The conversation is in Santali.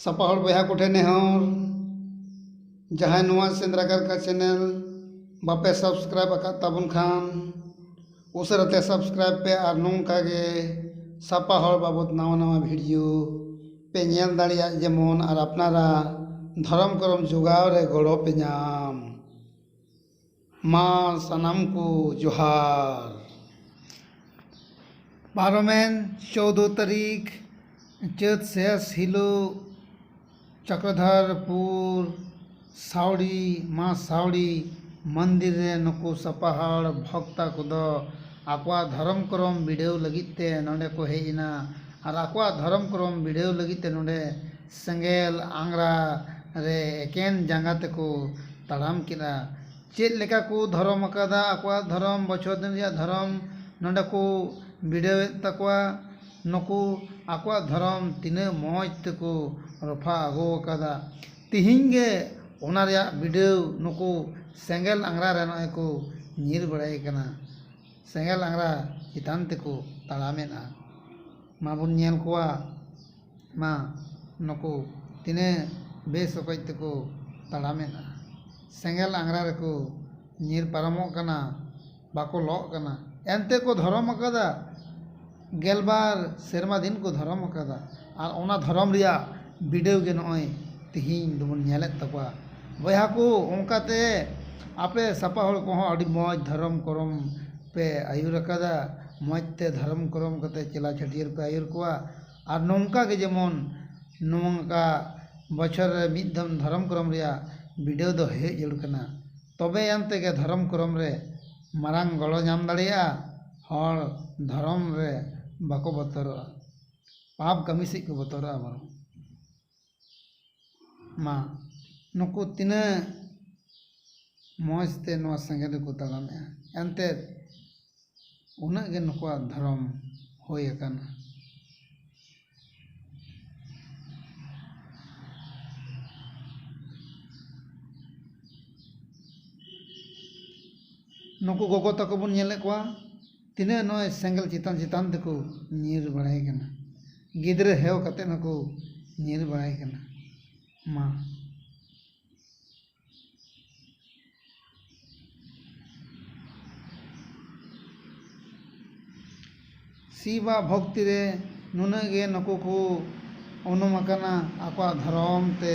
ᱥᱟᱯᱟ ᱦᱚᱲ ᱵᱚᱭᱦᱟ ᱠᱚᱴᱷᱮᱱ ᱱᱮᱦᱚᱨ ᱡᱟᱦᱟᱸᱭ ᱱᱚᱣᱟ ᱥᱮᱸᱫᱽᱨᱟ ᱠᱟᱨᱠᱟ ᱪᱮᱱᱮᱞ ᱵᱟᱯᱮ ᱥᱟᱵᱥᱠᱨᱟᱭᱤᱵᱽ ᱟᱠᱟᱫ ᱛᱟᱵᱚᱱ ᱠᱷᱟᱱ ᱩᱥᱟᱹᱨᱟ ᱛᱮ ᱥᱟᱵᱥᱠᱨᱟᱭᱤᱵᱽ ᱯᱮ ᱟᱨ ᱱᱚᱝᱠᱟ ᱜᱮ ᱥᱟᱯᱟ ᱦᱚᱲ ᱵᱟᱵᱚᱫ ᱱᱟᱣᱟ ᱱᱟᱣᱟ ᱵᱷᱤᱰᱤᱭᱳ ᱯᱮ ᱧᱮᱞ ᱫᱟᱲᱮᱭᱟᱜ ᱡᱮᱢᱚᱱ ᱟᱨ ᱟᱯᱱᱟᱨᱟᱜ ᱫᱷᱚᱨᱚᱢ ᱠᱚᱨᱚᱢ ᱡᱚᱜᱟᱣ ᱨᱮ ᱜᱚᱲᱚ ᱯᱮ ᱧᱟᱢ ᱢᱟ ᱥᱟᱱᱟᱢ ᱠᱚ ᱡᱚᱦᱟᱨ ᱯᱟᱨᱚᱢᱮᱱ ᱪᱳᱫᱽᱫᱳ ᱛᱟᱹᱨᱤᱠᱷ ᱪᱟᱹᱛ ᱥᱮᱥ ᱦᱤᱞᱳᱜ ᱪᱚᱠᱨᱚᱫᱷᱚᱨᱯᱩᱨ ᱥᱟᱹᱣᱲᱤ ᱢᱟ ᱥᱟᱹᱣᱲᱤ ᱢᱚᱱᱫᱤᱨ ᱨᱮ ᱱᱩᱠᱩ ᱥᱟᱯᱷᱟ ᱦᱚᱲ ᱵᱷᱚᱠᱛᱟ ᱠᱚᱫᱚ ᱟᱠᱚᱣᱟᱜ ᱫᱷᱚᱨᱚᱢ ᱠᱚᱨᱚᱢ ᱵᱤᱰᱟᱹᱣ ᱞᱟᱹᱜᱤᱫ ᱛᱮ ᱱᱚᱸᱰᱮ ᱠᱚ ᱦᱮᱡ ᱮᱱᱟ ᱟᱨ ᱟᱠᱚᱣᱟᱜ ᱫᱷᱚᱨᱚᱢ ᱠᱚᱨᱚᱢ ᱵᱤᱰᱟᱹᱣ ᱞᱟᱹᱜᱤᱫ ᱛᱮ ᱱᱚᱸᱰᱮ ᱥᱮᱸᱜᱮᱞ ᱟᱝᱜᱽᱨᱟ ᱨᱮ ᱮᱠᱮᱱ ᱡᱟᱸᱜᱟ ᱛᱮᱠᱚ ᱛᱟᱲᱟᱢ ᱠᱮᱫᱼᱟ ᱪᱮᱫ ᱞᱮᱠᱟ ᱠᱚ ᱫᱷᱚᱨᱚᱢ ᱟᱠᱟᱫᱟ ᱟᱠᱚᱣᱟᱜ ᱫᱷᱚᱨᱚᱢ ᱵᱚᱪᱷᱚᱨ ᱫᱤᱱ ᱨᱮᱭᱟᱜ ᱫᱷᱚᱨᱚᱢ ᱱᱚᱸᱰᱮ ᱠᱚ ᱵᱤᱰᱟᱹᱣᱮᱫ ᱛᱟᱠᱚᱣᱟ ᱱᱩᱠᱩ ᱟᱠᱚᱣᱟᱜ ᱫᱷᱚᱨᱚᱢ ᱛᱤᱱᱟᱹᱜ ᱢᱚᱡᱽ ᱛᱮᱠᱚ ᱨᱚᱯᱷᱟ ᱟᱹᱜᱩ ᱟᱠᱟᱫᱟ ᱛᱤᱦᱤᱧ ᱜᱮ ᱚᱱᱟ ᱨᱮᱭᱟᱜ ᱵᱤᱰᱟᱹᱣ ᱱᱩᱠᱩ ᱥᱮᱸᱜᱮᱞ ᱟᱝᱜᱽᱨᱟ ᱨᱮ ᱱᱚᱜᱼᱚᱭ ᱠᱚ ᱧᱤᱨ ᱵᱟᱲᱟᱭ ᱠᱟᱱᱟ ᱥᱮᱸᱜᱮᱞ ᱟᱝᱜᱽᱨᱟ ᱪᱮᱛᱟᱱ ᱛᱮᱠᱚ ᱛᱟᱲᱟᱢᱮᱫᱼᱟ ᱢᱟᱵᱚᱱ ᱧᱮᱞ ᱠᱚᱣᱟ ᱢᱟ ᱱᱩᱠᱩ ᱛᱤᱱᱟᱹᱜ ᱵᱮᱥ ᱚᱠᱚᱡ ᱛᱮᱠᱚ ᱛᱟᱲᱟᱢᱮᱫᱼᱟ ᱥᱮᱸᱜᱮᱞ ᱟᱝᱜᱽᱨᱟ ᱨᱮᱠᱚ ᱧᱤᱨ ᱯᱟᱨᱚᱢᱚᱜ ᱠᱟᱱᱟ ᱵᱟᱠᱚ ᱞᱚᱜ ᱠᱟᱱᱟ ᱮᱱᱛᱮ ᱠᱚ ᱫᱷᱚᱨᱚᱢ ᱟᱠᱟᱫᱟ ᱜᱮᱞᱵᱟᱨ ᱥᱮᱨᱢᱟ ᱫᱤᱱ ᱠᱚ ᱫᱷᱚᱨᱚᱢ ᱟᱠᱟᱫᱟ ᱟᱨ ᱚᱱᱟ ᱫᱷᱚᱨᱚᱢ ᱨᱮᱭᱟᱜ ᱵᱤᱰᱟᱹᱣ ᱜᱮ ᱱᱚᱜᱼᱚᱭ ᱛᱤᱦᱤᱧ ᱫᱚᱵᱚᱱ ᱧᱮᱞᱮᱫ ᱛᱟᱠᱚᱣᱟ ᱵᱚᱭᱦᱟ ᱠᱚ ᱚᱱᱠᱟ ᱛᱮ ᱟᱯᱮ ᱥᱟᱯᱟ ᱦᱚᱲ ᱠᱚᱦᱚᱸ ᱟᱹᱰᱤ ᱢᱚᱡᱽ ᱫᱷᱚᱨᱚᱢ ᱠᱚᱨᱚᱢ ᱯᱮ ᱟᱹᱭᱩᱨ ᱟᱠᱟᱫᱟ ᱢᱚᱡᱽ ᱛᱮ ᱫᱷᱚᱨᱚᱢ ᱠᱚᱨᱚᱢ ᱠᱟᱛᱮ ᱪᱮᱞᱟ ᱪᱷᱟᱹᱴᱭᱟᱹᱨ ᱯᱮ ᱟᱹᱭᱩᱨ ᱠᱚᱣᱟ ᱟᱨ ᱱᱚᱝᱠᱟ ᱜᱮ ᱡᱮᱢᱚᱱ ᱱᱚᱝᱠᱟ ᱵᱚᱪᱷᱚᱨ ᱨᱮ ᱢᱤᱫ ᱫᱚᱢ ᱫᱷᱚᱨᱚᱢ ᱠᱚᱨᱚᱢ ᱨᱮᱭᱟᱜ ᱵᱤᱰᱟᱹᱣ ᱫᱚ ᱦᱩᱭᱩᱜ ᱡᱟᱹᱨᱩᱲ ᱠᱟᱱᱟ ᱛᱚᱵᱮ ᱟᱱ ᱛᱮᱜᱮ ᱫᱷᱚᱨᱚᱢ ᱠᱚᱨᱚᱢ ᱨᱮ ᱢᱟᱨᱟᱝ ᱜᱚᱲᱚ ᱧᱟᱢ ᱫᱟᱲᱮᱭᱟᱜᱼᱟ ᱦᱚᱲ ᱫᱷᱚᱨᱚᱢ ᱨᱮ ᱵᱟᱠᱚ ᱵᱚᱛᱚᱨᱚᱜᱼᱟ ᱯᱟᱯ ᱠᱟᱹᱢᱤ ᱥᱮᱫ ᱠᱚ ᱵᱚᱛᱚᱨᱚᱜᱼᱟ ᱵᱚᱨᱚᱝ ᱢᱟ ᱱᱩᱠᱩ ᱛᱤᱱᱟᱹᱜ ᱢᱚᱡᱽ ᱛᱮ ᱱᱚᱣᱟ ᱥᱮᱸᱜᱮᱞ ᱨᱮᱠᱚ ᱛᱟᱲᱟᱢᱮᱜᱼᱟ ᱮᱱᱛᱮ ᱩᱱᱟᱹᱜ ᱜᱮ ᱱᱩᱠᱩᱣᱟᱜ ᱫᱷᱚᱨᱚᱢ ᱦᱩᱭ ᱟᱠᱟᱱᱟ ᱱᱩᱠᱩ ᱜᱚᱜᱚ ᱛᱟᱠᱚ ᱵᱚᱱ ᱧᱮᱞᱮᱫ ᱠᱚᱣᱟ ᱛᱤᱱᱟᱹᱜ ᱱᱚᱜᱼᱚᱭ ᱥᱮᱸᱜᱮᱞ ᱪᱮᱛᱟᱱ ᱪᱮᱛᱟᱱ ᱛᱮᱠᱚ ᱧᱤᱨ ᱵᱟᱲᱟᱭ ᱠᱟᱱᱟ ᱜᱤᱫᱽᱨᱟᱹ ᱦᱮᱣ ᱠᱟᱛᱮ ᱦᱚᱸᱠᱚ ᱧᱤᱨ ᱵᱟᱲᱟᱭ ᱠᱟᱱᱟ ᱢᱟ ᱥᱤᱵᱟᱜ ᱵᱷᱚᱠᱛᱤ ᱨᱮ ᱱᱩᱱᱟᱹᱜ ᱜᱮ ᱱᱩᱠᱩ ᱠᱚ ᱩᱱᱩᱢ ᱟᱠᱟᱱᱟ ᱟᱠᱚᱣᱟᱜ ᱫᱷᱚᱨᱚᱢ ᱛᱮ